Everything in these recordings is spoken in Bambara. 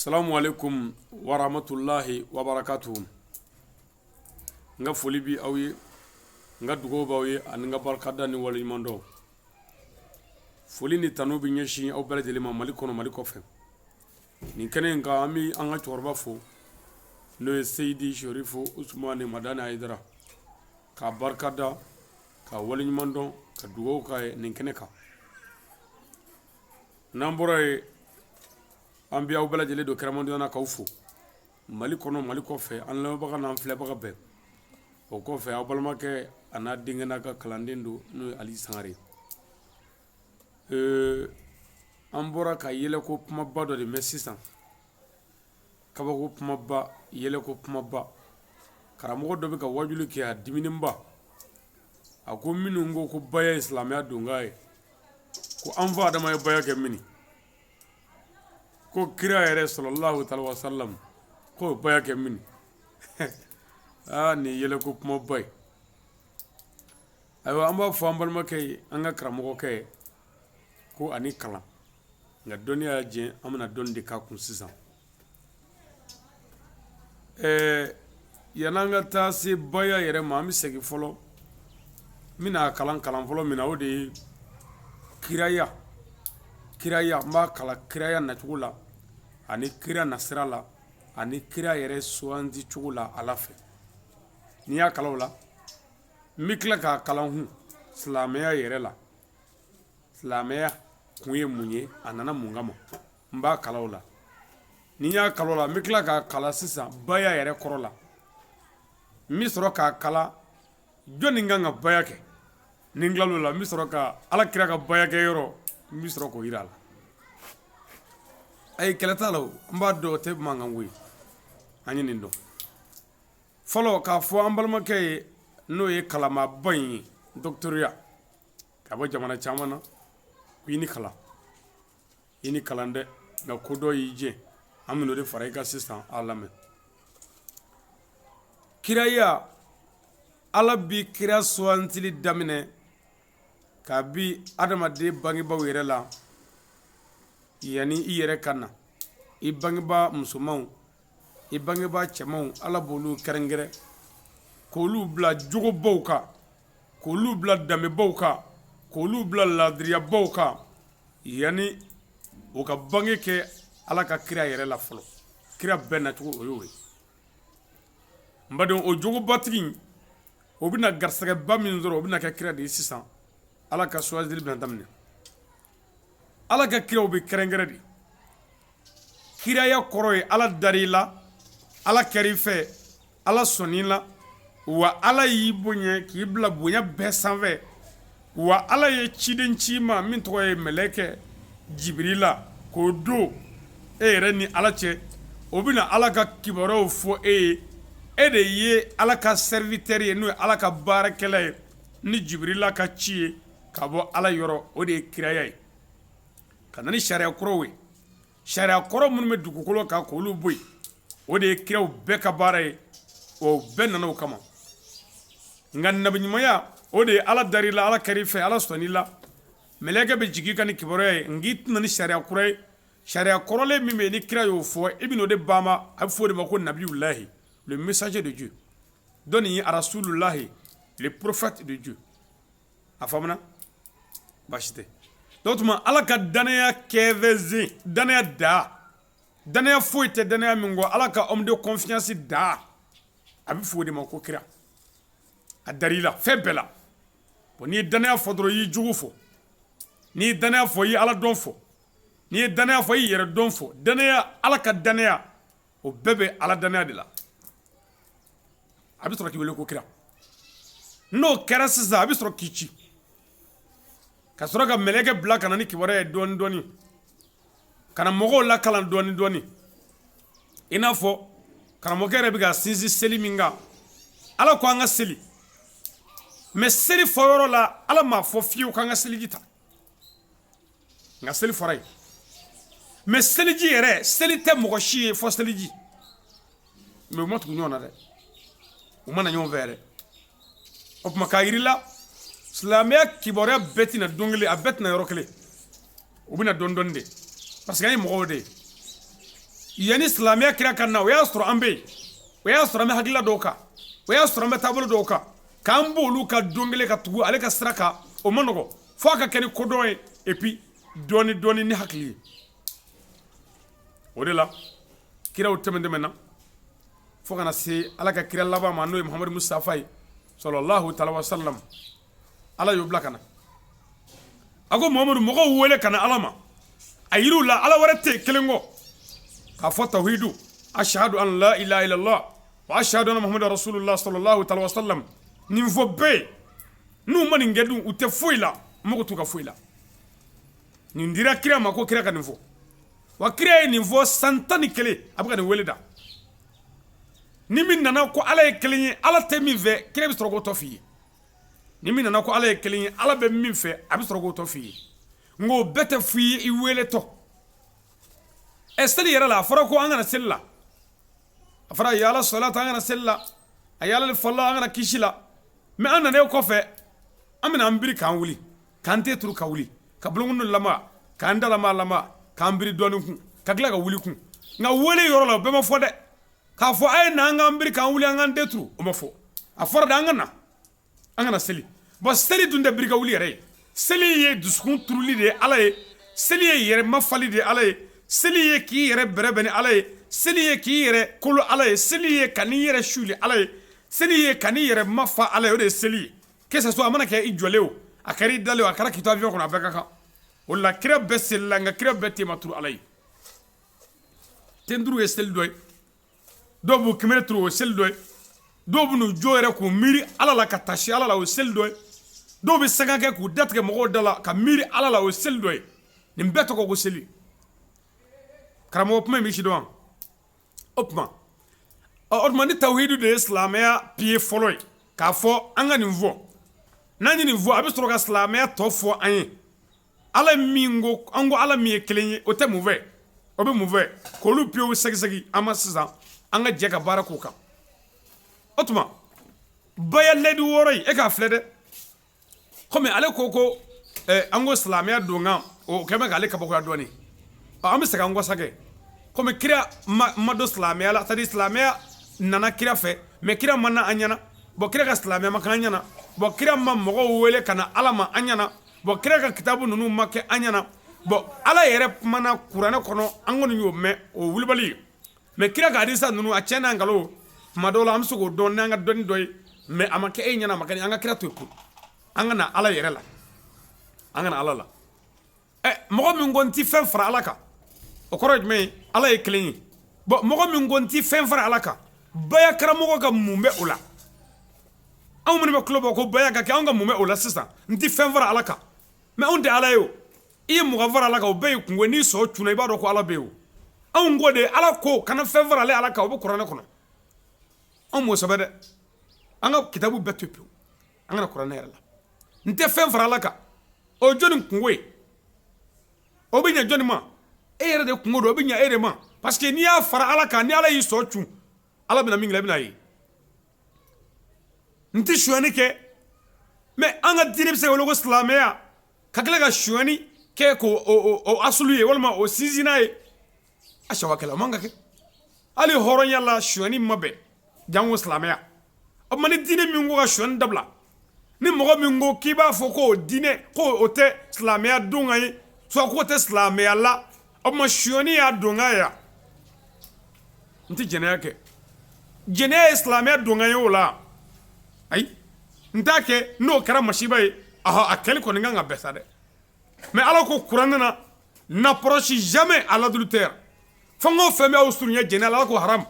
salamu alekum waramatulayi wabarakatu n ka foli bɛ aw ye n ka dugawu b'aw ye ani n ka barikada ni waleɲumandɔn foli ni tanu bɛ ɲɛsin aw bɛɛ lajɛlen ma mali kɔnɔ mali kɔfɛ nin kɛnɛ in kan an bɛ an ka cɛkɔrɔba fo n'o ye seyidi serifu usumani madani ayidara k'a barikada ka waleɲumandɔn ka dugawu k'a ye nin kɛnɛ kan n'an bɔra ye an bɛ aw bɛɛ lajɛlen don kɛrɛmadonya na k'aw fo mali kɔnɔ mali kɔfɛ an lamɛnbaga n'an filɛbaga bɛɛ o kɔfɛ aw balimakɛ a n'a denkɛ n'a ka kalanden don n'o ye ali sangare ee an bɔra ka yɛlɛko kumaba dɔ de mɛn sisan kabako kumaba yɛlɛko kumaba karamɔgɔ dɔ bɛ ka wajuli kɛ a diminenba a ko minnu ko ko baya ye silamɛya donkan ye ko an fa adama ye baya kɛ mini ko kira yɛrɛ salalahu alayihi wasalamu ko baya kɛ mini aa nin yɛlɛko kumaba ye ayiwa an b'a fɔ an balimakɛ ye an ka karamɔgɔkɛ ye ko a ni kalan nka dɔnniya y'a jɛ an bɛna dɔnni de k'a kun sisan ɛɛ yanni an ka taa se baya yɛrɛ ma an bɛ segin fɔlɔ n bɛna kalan kalan fɔlɔ min na o de ye kiraya kiraya n b'a kalan kiraya nacogo la ani kira nasira la ani kira yɛrɛ suganti cogo la ala fɛ ni n y'a kalan o la n bɛ tila k'a kalan hun silamɛya yɛrɛ la silamɛya kun ye mun ye a nana mun kama N b'a kalan o la ni n y'a kalan o la n bɛ tila k'a kalan sisan baya yɛrɛ kɔrɔ la n bɛ sɔrɔ k'a kalan jɔnni kan ka baya kɛ ni n tilal'o la n bɛ sɔrɔ ka ala kira ka baya kɛ yɔrɔ n bɛ sɔrɔ k'o jira a la ayi kɛlɛ t'a la n b'a dɔn o tɛ mankan ko ye an ye nin dɔn fɔlɔ k'a fɔ an balimakɛ ye n'o ye kalanmaaba in ye dɔkɔtɔrɔya ka bɔ jamana caman na k'i ni kalan i ni kalan dɛ nka ko dɔ y'i jɛ an bɛn'o de fara i kan sisan a lamɛn kiraya ala bi kira sugantili daminɛ kabi adamaden bangebaaw yɛrɛ la yanni i yɛrɛ ka na i bangebaa musomanw i bangebaa cɛmanw ala b'olu kɛrɛnkɛrɛn k'olu bila jogobaw kan k'olu bila danbebaw kan k'olu bila laadiriyabaw kan yanni o ka bange kɛ ala ka kira yɛrɛ la fɔlɔ kira bɛɛ nacogo o y'o ye n badenw o jogobatigi o bɛna garisɛgɛba min sɔrɔ o bɛna kɛ kira de ye sisan ala ka suwazili bɛna daminɛ ala ka kiraw bɛ kɛrɛnkɛrɛn de kiraya kɔrɔ ye ala dar'i la ala kɛra i fɛ ala sɔnn'i la wa ala y'i bonya k'i bila bonya bɛɛ sanfɛ wa ala ye ciden ci i ma min tɔgɔ ye mɛlɛkɛ jibirila k'o don e yɛrɛ ni ala cɛ o bɛna ala ka kibaruyaw fɔ e ye e de ye ala ka serviteur ye n'o ye ala ka baarakɛla ye ni jibirila ka ci ye ka bɔ ala yɔrɔ o de ye kiraya ye ka na ni sariya kɔrɔw ye sariya kɔrɔ minnu bɛ dugukolo kan k' olu bɔ yen o de ye kiraw bɛɛ ka baara ye o bɛɛ nana o kama nka nabiɲumanya o de ye ala dar'i la ala kɛr'i fɛ ala sɔnna i la mɛlɛkɛ bɛ jigin i kan ni kibaruya ye nka i tɛ na ni sariya kura ye sariya kɔrɔlen min bɛ yen ni kira y'o fɔ i bɛn'o de baama a bɛ fɔ o de ma ko nabiyulahi le messager de Dieu dɔ nin ye arasululahi le prophète de Dieu a faamuna baasi tɛ o tuma ala ka danaya kɛ bɛsen danaya da danaya foyi tɛ danaya min kɔ ala ka homme de confiance da a bɛ fɔ o de ma ko kira a dar'i la fɛn bɛɛ la bon n'i ye danaya fɔ dɔrɔn i y'i jugu fɔ n'i ye danaya fɔ i ye ala dɔn fɔ n'i ye danaya fɔ i y'i yɛrɛ dɔn fɔ danaya ala ka danaya o bɛɛ bɛ ala danaya de la a bɛ sɔrɔ k'i wele ko kira n'o kɛra sisan a bɛ sɔrɔ k'i ci ka sɔrɔ ka mɛlɛkɛ bila ka na ni kibaru ye dɔɔnin dɔɔnin ka na mɔgɔw lakalan dɔɔnin dɔɔnin i n'a fɔ karamɔgɔkɛ yɛrɛ bɛ ka sinsin seli min kan ala ko an ka seli mais seli fɔyɔrɔ la ala m'a fɔ fiyewu k'an ka seliji ta nka seli fɔra yen mais seliji yɛrɛ seli tɛ mɔgɔ si ye fɔ seliji mais u ma tugu ɲɔgɔn na dɛ u ma na ɲɔgɔn fɛ yɛrɛ o tuma k'a yir'i la silamɛya kibaruya bɛɛ tɛ na don kelen a bɛɛ tɛ na yɔrɔ kelen u bɛ na dɔɔni dɔɔni de parce que an ye mɔgɔw de ye yanni silamɛya kira ka na o y'a sɔrɔ an bɛ yen o y'a sɔrɔ an bɛ hakilila dɔw kan o y'a sɔrɔ an bɛ taabolo dɔw kan k'an b'olu kan don kelen ka tugu ale ka sira kan o man nɔgɔn fo a ka kɛ ni kodɔn ye et puis dɔɔni dɔɔni ni hakili ye o de la kiraw tɛmɛn tɛmɛnna fo ka na se ala ka kira laban ma n'o ye muhamadu mustafa ye sɔlɔlahu taala wa salam ala y'o bila ka na a ko muhamadu mɔgɔw wele ka na ala ma a yir'u la ala wɛrɛ tɛ yen kelen kɔ k'a fɔ tawhidu ashahadu an la ilaha illallah wa ashahadu anna muhamadu rasulullah sɔlɔlahu taala wa salam nin fɔ bɛɛ N'u ma nin kɛ dun u tɛ foyi la mɔgɔ t'u ka foyi la nin dira kira ma ko kira ka nin fɔ wa kira ye nin fɔ san tan ni kelen a bɛ ka nin weele da ni min nana ko ala ye kelen ye ala tɛ min fɛ kira bɛ sɔrɔ k'o tɔ f' i ye ni min nana ko ala ye kelen ye ala bɛ min fɛ a bɛ sɔrɔ k'o tɔ f' i ye nka o bɛɛ tɛ f'i ye i weeletɔ ɛ seli yɛrɛ la a fɔra ko an ka na seli la a fɔra hayya ala salat an ka na seli la hayya alal falah an ka na kisi la mɛ an nanen kɔfɛ an bɛna an biri k'an wuli k'an ten turu ka wuli ka bolonkɔni lama k'an da lama lama k'an biri dɔɔni kun ka tila ka wuli kun nka wele yɔrɔ la o bɛɛ ma fɔ dɛ k'a fɔ a ye na an k'an biri k'an wuli an k'an ten turu o ma fɔ a fɔra de an ka na an ka na seli bɔn seli dun tɛ biri ka wuli yɛrɛ ye seli ye dusukun turuli de ye ala ye seli ye yɛrɛ mafali de ye ala ye seli ye k'i yɛrɛ bɛrɛbɛn ni ala ye seli ye k'i yɛrɛ kolo ala ye seli ye ka n'i yɛrɛ suli ala ye seli ye ka n'i yɛrɛ mafa ala ye o de ye seli ye que ça soit a mana kɛ i jɔlen o a kɛra i dalen a kɛra k'i to avion kɔnɔ a bɛɛ ka kan o la kira bɛɛ selila nka kira bɛɛ ten ma turu ala ye ten turu ye seli dɔ ye dɔw b'u kunbere turu o seli dɔ ye dɔw bɛ n'u jo yɛrɛ k'u miiri ala la ka taasi ala la o seli dɔ ye dɔw bɛ sanga kɛ k'u da tigɛ mɔgɔw da la ka miiri ala la o seli dɔ ye nin bɛɛ tɔgɔ ko seli karamɔgɔ kuma in bɛ sidɔn o tuma o tuma ni tawhidu de ye silamɛya piye fɔlɔ ye k'a fɔ an ka nin fɔ n'an ye nin fɔ a bɛ sɔrɔ ka silamɛya tɔ fɔ an ye Ala min ko an ko ala min ye kelen ye o tɛ mun fɛ o bɛ mun fɛ k'olu piyew sɛgɛsɛgɛ an ma sisan an ka jɛ ka baara k'u kan o tuma ba ladi wɔɔrɔ in e k'a filɛ dɛ kɔmi ale ko ko an ko silamɛya donkan o kɛlen bɛ k'ale kabakoya dɔɔnin an bɛ segin an kɔ sa kɔmi kira ma don silamɛya la c'est-à-dire silamɛya nana kira fɛ mɛ kira ma na an ɲɛna bɔn kira ka silamɛya ma kɛ an ɲɛna bɔn kira ma mɔgɔw wele ka na ala ma an ɲɛna Bon kira ka kitabu ninnu ma kɛ an ɲɛna bon ala yɛrɛ kumana kuranɛ kɔnɔ an kɔni y'o mɛn o wulibali mɛ kira ka hadisa ninnu a cɛn n'a nkalon tuma dɔw la an bɛ se k'o dɔn n' an ka dɔnni dɔ ye mɛ a ma kɛ e ɲɛna a ma kɛ an ka kira to yen an ka na ala yɛrɛ la an ka na ala la ɛ mɔgɔ min ko n tɛ fɛn fara ala kan o kɔrɔ ye jumɛn ye ala ye kelen ye bɔn mɔgɔ min ko n tɛ fɛn fara ala kan baya karamɔgɔ ka mun bɛ o la anw minnu bɛ tulo bɔ ko baya ka kɛ anw ka mun bɛ o la sisan n tɛ fɛn fara ala kan mɛ anw tɛ ala ye o i ye mɔgɔ fara ala kan o bɛɛ y'i kunko n'i sɔn cunna i b'a dɔn ko ala bɛ yen o anw ko de ala ko kana fɛn fara ale ala kan o bɛ kuranɛ kɔnɔ anw m'o sɛbɛn dɛ an ka kitabu bɛɛ to yen pewu an ka na kuranɛ yɛrɛ la n tɛ fɛn fara ala kan o ye jɔnni kunko ye o bɛ ɲɛ jɔnni ma e yɛrɛ de kunko don o bɛ ɲɛ e de ma parce que n'i y'a fara ala kan ni ala y'i sɔn cun Ala bɛna min kɛ i bɛn'a ye. N tɛ sonyali kɛ mais an ka diinɛ bɛ se ka wele ko silamɛya ka tila ka sonyali kɛ k'o asulu ye walima o sinsinnan ye a sonyakɛla o man kan ka kɛ hali hɔrɔnya la sonyali ma bɛn janko silamɛya o tuma ni diinɛ min ko ka sonyali dabila ni mɔgɔ min ko k'i b'a fɔ k'o diinɛ ko o tɛ silamɛya don ka ye soit k'o tɛ silamɛya la o tuma sonyali y'a don yan n tɛ jɛnɛya kɛ jɛnɛya ye silamɛya don ye o la ayi n t'a kɛ n'o kɛra masiba ye ah a kɛlen kɔni kan ka bɛɛ sa dɛ mais ala ko kuranɛ na n'approchez jamais à l'adultère fɛn o fɛn b'aw surunya jɛnɛya la ala ko ha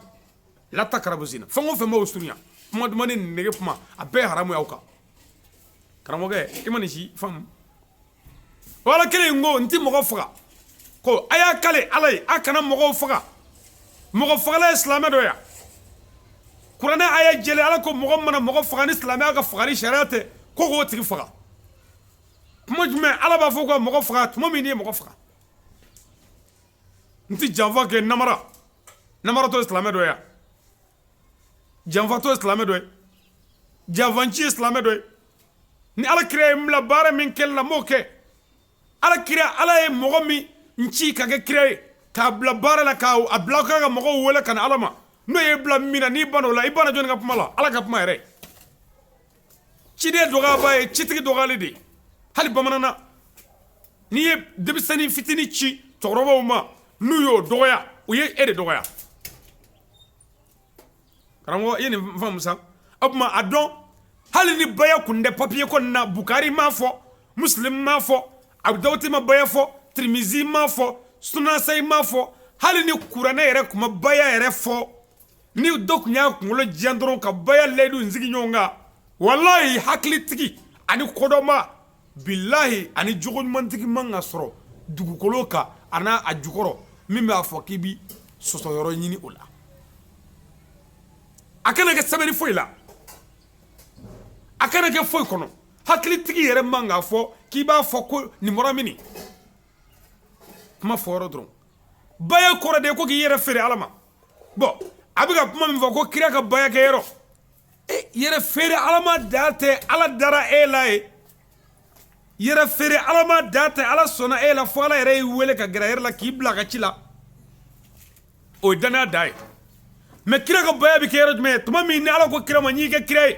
la taqrabu zina fɛn o fɛn b'aw surunya kuma duman ni nege kuma a bɛɛ haramu y'aw kan karamɔgɔkɛ i ma nin si faamu wala kelen in ko n ti mɔgɔ faga ko a y'a kale ala ye a kana mɔgɔw faga mɔgɔ fagala ye silamɛ dɔ ya kuranɛ a ye jɛlen ala ko mɔgɔ mana mɔgɔ faga ni silamɛya ka fagali sariya tɛ ko k'o tigi faga tuma jumɛn ala b'a fɔ ko mɔgɔ faga tuma min n'i ye mɔgɔ faga n tɛ janfa kɛ namara namaratɔ ye silamɛ dɔ ya janfatɔ ye silamɛ dɔ ye janfanci ye silamɛ dɔ ye ni ala kira ye n bila baara min kɛli la n b'o kɛ ala kira ala ye mɔgɔ min ci ka kɛ kira ye k'a bila baara la k'a bila ka mɔgɔw wele ka na ala ma n'o y'i bila min na n'i banna o la i banna jɔnni ka kuma la ala ka kuma yɛrɛ ciden dɔgɔyaba ye citigi dɔgɔyali de ye hali bamanan na n'i ye denmisɛnnin fitinin ci cɛkɔrɔbaw ma n'u y'o dɔgɔya u ye e de dɔgɔya karamɔgɔ i ye nin faamu sa o tuma a dɔn hali ni baya kun tɛ papiye kɔni na bukari m'a fɔ muslim m'a fɔ abu dawud ma baya fɔ tirimizi m'a fɔ sunasayi m'a fɔ hali ni kuranɛ yɛrɛ kun ma baya yɛrɛ fɔ Ni dɔ kun y'a kunkolo jan dɔrɔn ka baya layidu in sigi ɲɔgɔn kan walayi hakilitigi ani kodɔnba bilayi ani jogo ɲumantigi man ka sɔrɔ dugukolo kan a n'a jukɔrɔ min b'a fɔ k'i bɛ sɔsɔyɔrɔ ɲini o la a kana kɛ sɛbɛnni foyi la a kana kɛ foyi kɔnɔ hakilitigi yɛrɛ man ka fɔ k'i b'a fɔ ko nin bɔra min kuma fɔ dɔrɔn baya kɔrɔ de ye ko k'i yɛrɛ feere ala ma bon a bɛ ka kuma min fɔ ko kira ka bayakɛ yɔrɔ e yɛrɛ feere ala ma da tɛ ala dara e la ye yɛrɛ feere ala ma da tɛ ala sɔnna e la fo ala yɛrɛ y'i weele ka gɛrɛ yɛrɛ la k'i bila ka ci la o ye danaya da ye mais kira ka baya bɛ kɛ yɔrɔ jumɛn ye tuma min ni ala ko kira ma n'i kɛ kira ye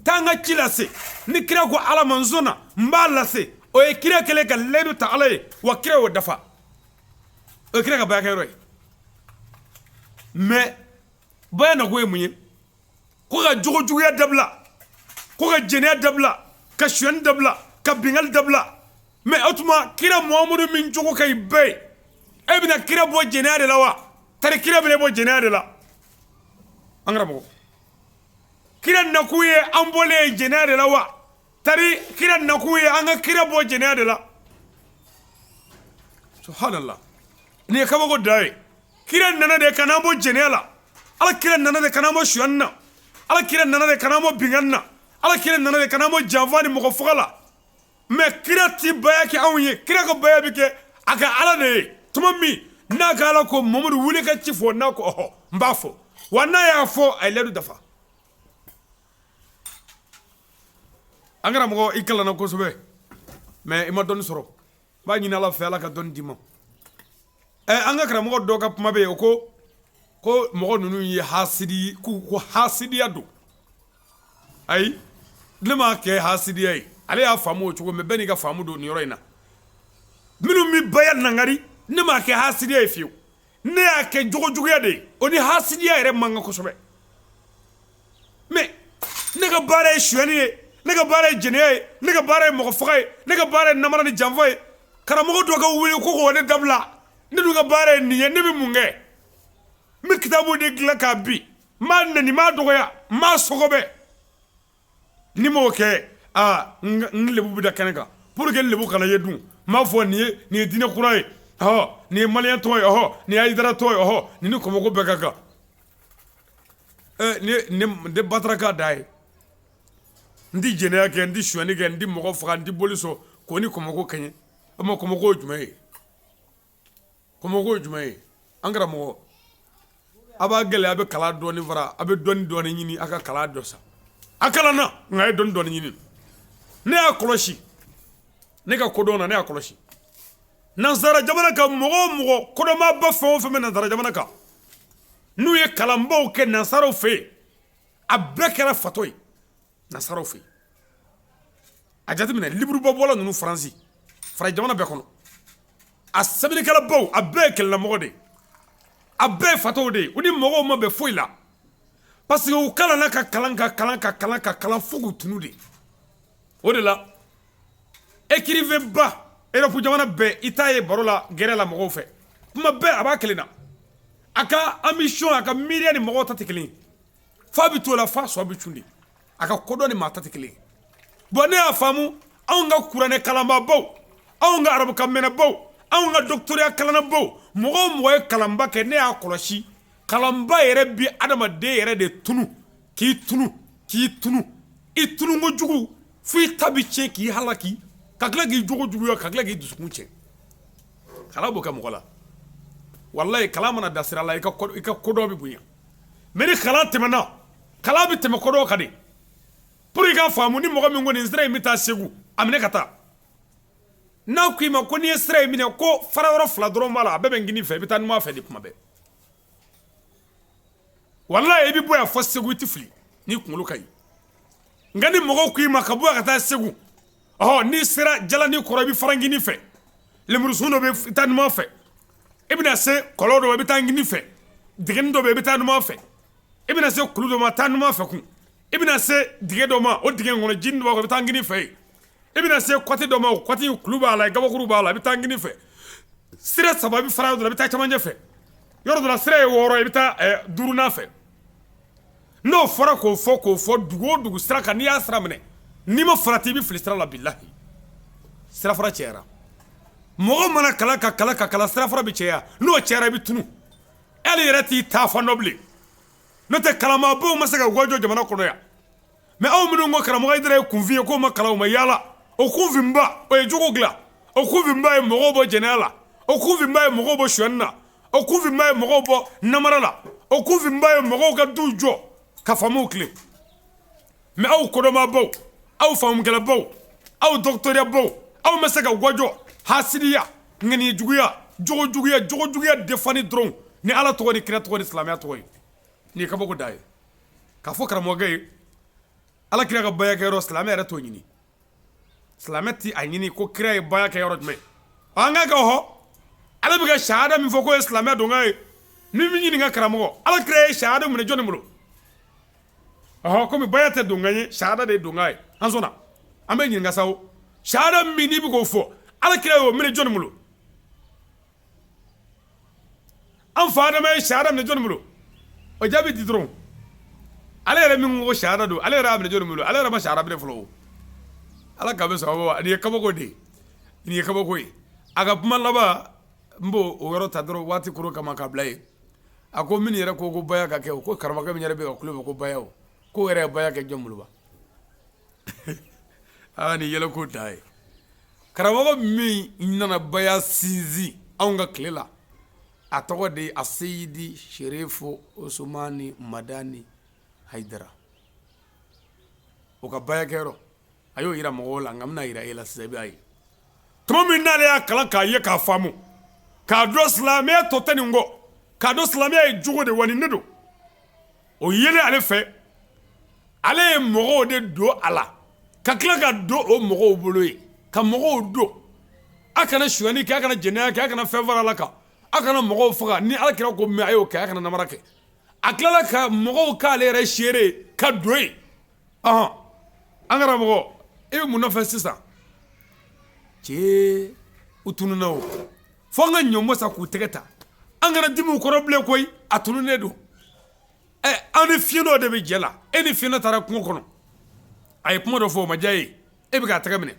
taa n ka ci lase ni kira ko ala ma n sɔnna n b'a lase o ye kira kɛlen ka layidu ta ala ye wa kira y'o dafa o ye kira ka bayakɛ yɔrɔ ye mais baya nakun ye mun ye ko ka jogo juguya dabila ko ka jɛnɛya dabila ka suyani dabila ka bingali dabila mais o tuma kira muhamadu min jogo ka ɲi bɛɛ ye e bɛna kira bɔ jɛnɛya de la wa tari kira bɛn'e bɔ jɛnɛya de la an karamɔgɔ kira nakun ye an bɔli ye jɛnɛya de la wa tari kira nakun ye an ka kira bɔ jɛnɛya de la subhanallah nin ye kabako da ye kira nana de ka n'an bɔ jɛnɛya la ala kira nana de ka n'an bɔ suyani na ala kira nana de ka n'an bɔ binkanni na ala kira nana de ka n'an bɔ janfa ni mɔgɔ faga la mais kira ti baya kɛ anw ye kira ka baya bɛ kɛ a ka ala de ye tuma min n'a ka ala ko mamadu wuli ka ci fɔ n'a ko ɔhɔ n b'a fɔ wa n'a y'a fɔ a ye layidu dafa an karamɔgɔ i kalanna kosɛbɛ mais i ma dɔnni sɔrɔ n b'a ɲini ala fɛ ala ka dɔnni d'i ma ɛ an ka karamɔgɔ dɔ ka kuma bɛ yen o ko ko mɔgɔ ninnu ye hasidi ko ko hasidiya don ayi ne m'a kɛ hasidiya ye ale y'a faamu o cogo mais bɛɛ n'i ka faamu don nin yɔrɔ in na minnu bɛ baya nangari ne m'a kɛ hasidiya ye fiyewu ne y'a kɛ jogo juguya de ye o ni hasidiya yɛrɛ man kan kosɛbɛ mais ne ka baara ye suyani ye ne ka baara ye jɛnɛya ye ne ka baara ye mɔgɔ faga ye ne ka baara ye namara ni janfa ye karamɔgɔ dɔ ka wuli ko k'o ne dabila ne dun ka baara ye nin ye ne bɛ mun kɛ n bɛ kitabu de dilan k'a bin n b'a nɛni n b'a dɔgɔya n b'a sɔgɔbɛ Ni n m'o kɛ aa n lebu bɛ da kɛnɛ kan pour que n lebu kana ye dun n b'a fɔ nin ye diinɛ kura ye ɔ nin ye mali tɔgɔ ye ɔ nin ye ayidara tɔgɔ ye ɔhɔ nin ni kɔmɔko bɛɛ ka kan n tɛ bataraka da ye n tɛ jɛnɛya kɛ n tɛ suyani kɛ n tɛ mɔgɔ faga n tɛ boli sɔn k'o ni kɔmɔko kɛɲɛ o ma kɔmɔko jumɛn ye ko ye jumɛn ye an karamɔgɔ a b'a gɛlɛya a bɛ kalan dɔɔni fara a bɛ dɔnni dɔɔni ɲini a ka kalan dɔ sa a kalanna nka a ye dɔnni dɔɔni ɲini ne y'a kɔlɔsi ne ka kodɔn na ne y'a kɔlɔsi nansara jamana kan mɔgɔ o mɔgɔ kodɔnnaba fɛn o fɛn bɛ nansara jamana kan n'u ye kalanbaw kɛ nansaraw fɛ yen a bɛɛ kɛra fatɔ ye nansaraw fɛ a jateminɛ liburuba bɔla ninnu faransi fara jamana bɛɛ kɔnɔ a sɛbɛnnikɛlabaw a bɛɛ ye kelennamɔgɔ de a bɛɛ ye fatɔw de u ni mɔgɔw ma bɛn foyi la parce que u kalanna ka kalan ka kalan ka kalan ka kalan fo k'u tunun de o de la écrivainba Europe jamana bɛɛ i t'a ye baro la gɛrɛ la mɔgɔw fɛ kuma bɛɛ a b'a kelen na a ka ambition a ka miiriya ni mɔgɔw ta tɛ kelen fa bɛ t'o la fa sɔ bɛ cun de a ka kodɔn ni maa ta tɛ kelen ye bɔn ne y'a faamu anw ka kuranɛ kalanbaabaw anw ka arabukan mɛnnabaw anw ka dɔgɔtɔrɔya kalannabaw mɔgɔ o mɔgɔ ye kalanba kɛ ne y'a kɔlɔsi kalanba yɛrɛ bɛ adamaden yɛrɛ de tunu k'i tunu k'i tunu i tunu kojugu fo i ta bɛ tiɲɛ k'i halaki ka tila k'i jogo juguya ka tila k'i dusukun tiɲɛ kalan b'o kɛ mɔgɔ la walayi kalan mana da sira la i ka ko i ka kodɔn bɛ bonya mɛ ni kalan tɛmɛna kalan bɛ tɛmɛ kodɔn kan de puru i ka faamu ni mɔgɔ min ko nin sira in bɛ taa segu a minɛ ka taa n'a k'i ma ko n'i ye sira in minɛ ko fara yɔrɔ fila dɔrɔn b'a la a bɛɛ bɛ kinin fɛ i bɛ taa numan fɛ de kuma bɛɛ walayi i bɛ bɔ yan fo segu i tɛ fili n'i kunkolo ka ɲi Nka ni mɔgɔw k'i ma ka bɔ yan ka taa segu ɔ n'i sera jalanin kɔrɔ i bɛ fara kinin fɛ lemurusun dɔ bɛ taa numan fɛ i bɛna se kɔlɔn dɔ ma i bɛ taa kinin fɛ dingɛnin dɔ i bɛ taa numan fɛ i bɛna se kulu dɔ ma taa numan fɛ kun i bɛna se dingɛ dɔ ma o dingɛ kɔnɔ jiri dɔ b'a kɔnɔ i bɛ taa kinin fɛ yen i bɛna se kɔti dɔ ma o kɔti kulu b'a la kabakuru b'a la i bɛ taa kinin fɛ sira saba i bɛ fara yɔrɔ dɔ la i bɛ taa cɛmancɛ fɛ yɔrɔ dɔ la sira ye wɔɔrɔ i bɛ taa duurunan fɛ N'o fɔra k'o fɔ k'o fɔ dugu o dugu sira kan n'i y'a sira minɛ n'i ma farati i bɛ fili sira la bilahi sira fara cayara mɔgɔ mana kalan ka kalan ka kalan sira fara bɛ caya n'o cayara i bɛ tunun hali i yɛrɛ t'i taafan dɔn bilen n'o tɛ kalanbaabaw ma se ka gwa jɔ jamana kɔnɔ yan mɛ aw minnu ko karamɔgɔ hayidara ye kunfin ye k'o ma kalan o ma yaala o kunfinba o ye jogo dilan o kunfinba ye mɔgɔw bɔ jɛnɛya la o kunfinba ye mɔgɔw bɔ sonyani na o kunfinba ye mɔgɔw bɔ namara la o kunfinba ye mɔgɔw ka duw jɔ ka faamuw tilen mɛ aw kodɔnbaabaw aw faamukɛlabaw aw dɔgɔtɔrɔyabaw aw ma se ka gwa jɔ hasidiya ŋaniya juguya jogo juguya jogo juguya defani dɔrɔn ni Ala tɔgɔ ni kira tɔgɔ ni silamɛya tɔgɔ ye nin ye kabako dan ye k'a fɔ karamɔgɔkɛ ye Ala kira ka bayakɛyɔrɔ silamɛ yɛrɛ t'o ɲini silamɛ tɛ a ɲini ko kira ye baya kɛ yɔrɔ jumɛn an ka kɛ hɔ ale bɛ ka shahada min fɔ k'o ye silamɛ donkan ye min bɛ ɲininka karamɔgɔ ala kira ye shahada minɛ jɔnni bolo ɔ kɔmi baya tɛ donkan ye shahada de ye donkan ye an sɔnna an bɛ ɲininka sa shahada min i bɛ k'o fɔ ala kira ye o minɛ jɔnni bolo an fa adama ye shahada minɛ jɔnni bolo o jaabi di dɔrɔn ale yɛrɛ min ko shahada don ale yɛrɛ y'a minɛ jɔnni bolo ale yɛrɛ ma shahada minɛ fɔlɔ o ala ka bɛ sababu wa nin ye kabako de ye nin ye kabako ye a ka kuma laban n b'o o yɔrɔ ta dɔrɔn waati koro kama k'a bila yen a ko min yɛrɛ ko ko baya ka kɛ o ko karamɔgɔkɛ min yɛrɛ bɛ ka kulo bɛ ko baya o ko yɛrɛ ye baya kɛ jɔn bolo wa aa nin yɛlɛko dan ye karamɔgɔ min nana baya sinsin anw ka tile la a tɔgɔ de ye aseyidi serifu usumani madani hayidara o ka bayakɛyɔrɔ a y'o yira mɔgɔw la nka n bɛna yira e la sisan i b'a ye tuma min n'ale y'a kalan k'a ye k'a faamu k'a dɔn silamɛya tɔ tɛ nin kɔ k'a dɔn silamɛya ye jogo de wa nin de don o yelen ale fɛ ale ye mɔgɔw de don a la ka tila ka don o mɔgɔw bolo ye ka mɔgɔw don a kana suyani kɛ a kana jɛnɛya kɛ a kana fɛn fara ala kan a kana mɔgɔw faga ni ala kira ko mɛ a y'o kɛ a kana namara kɛ a tilala ka mɔgɔw k'ale yɛrɛ seere ye ka don yen ɔhɔn, an karamɔgɔ e bɛ mun nɔfɛ sisan? cɛɛ u tununa o, fo an ka ɲɔnbɔ sa k'u tɛgɛ ta, an kana dimi u kɔrɔ bilen koyi, a tununnen don, an ni fiyentɔ de bɛ jɛ la, e ni fiyentɔ taara kungo kɔnɔ, a ye kuma dɔ fɔ o ma diya e ye. e bɛ k'a tɛgɛ minɛ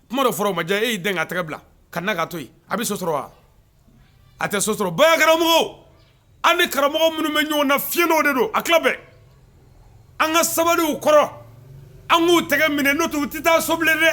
kuma dɔ fɔra o ma diya e y'i dɛn k'a tɛgɛ bila ka na k'a to yen a bɛ so sɔrɔ wa a tɛ so sɔrɔ baya karamɔgɔw an ni karamɔgɔ minnu bɛ ɲɔgɔn na fiyentɔw de don a tila bɛɛ an ka sabali u kɔrɔ an k'u tɛgɛ minɛ n'o tɛ u tɛ taa so bilen dɛ